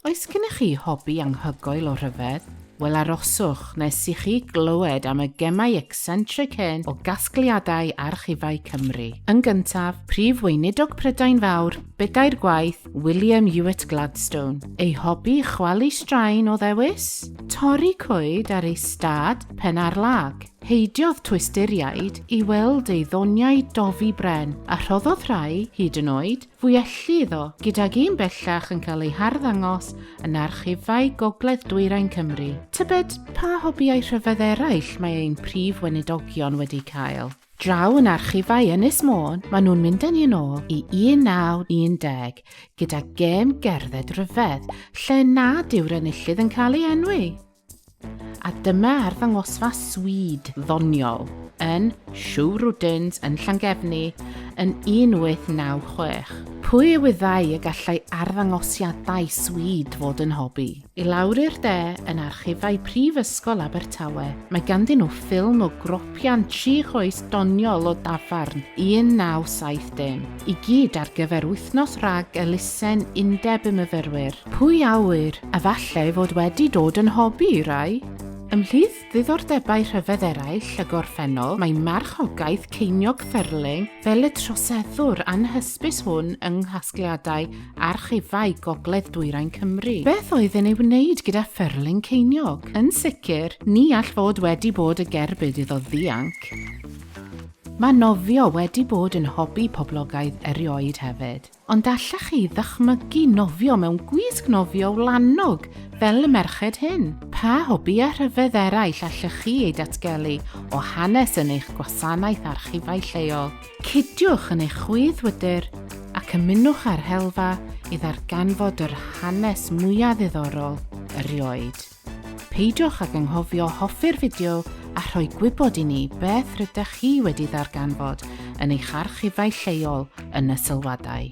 Oes gennych chi hobi anghygoel o rhyfedd? Wel aroswch nes i chi glywed am y gemau ecsentric hyn o gasgliadau archifau Cymru. Yn gyntaf, Prif Weinidog Prydain Fawr, bedair gwaith, William Ewart Gladstone. Ei hobi, chwalu straen o ddewis? Torri coed ar ei stad, Pen-ar-lag. Heidiodd Twisturiaid i weld ei ddoniau dofi bren, a rhoddodd rhai, hyd yn oed, Fu elli iddo, gydag un bellach yn cael ei harddangos yn archifau Gogledd Dwyrain Cymru. Tybed pa hobïau rhyfedd eraill mae ein prif weinidogion wedi cael? Draw yn archifau Ynys Môn, maen nhw'n mynd â ni yn ôl i 1910 gyda gêm gerdded ryfedd lle nad yw'r enillydd yn cael ei enwi. A dyma arddangosfa swyd ddoniol yn Siw Rwdins yn Llangefni yn 1896. Pwy a wyddai y gallai arddangosiadau swyd fod yn hobi? I lawr i'r de, yn archifau Prifysgol Abertawe, mae ganddyn nhw ffilm o gropian tri choes doniol o dafarn 1970, i gyd ar gyfer wythnos rhag elusen Undeb y Myfyrwyr. Pwy a ŵyr, efallai fod wedi dod yn hobi i rai? Ymhlith ddiddordebau rhyfedd eraill y gorffennol mae marchogaeth ceiniog ffyrling fel y troseddwr anhysbys hwn yng nghasgliadau archifau gogledd dwyrain Cymru. Beth oedd yn ei wneud gyda ffyrling ceiniog? Yn sicr, ni all fod wedi bod y gerbyd iddo ddianc. Mae nofio wedi bod yn hobi poblogaidd erioed hefyd. Ond allech chi ddychmygu nofio mewn gwisg nofio wlanog fel y merched hyn? Pa hobi a rhyfedd eraill allech chi ei datgelu o hanes yn eich gwasanaeth archifau lleol? Cydiwch yn eich chwyddwydr ac ymunwch â'r helfa i ddarganfod yr hanes mwya ddiddorol erioed. Peidiwch ag anghofio hoffi'r fideo a rhoi gwybod i ni beth rydych chi wedi ddarganfod yn eich archifau lleol yn y sylwadau.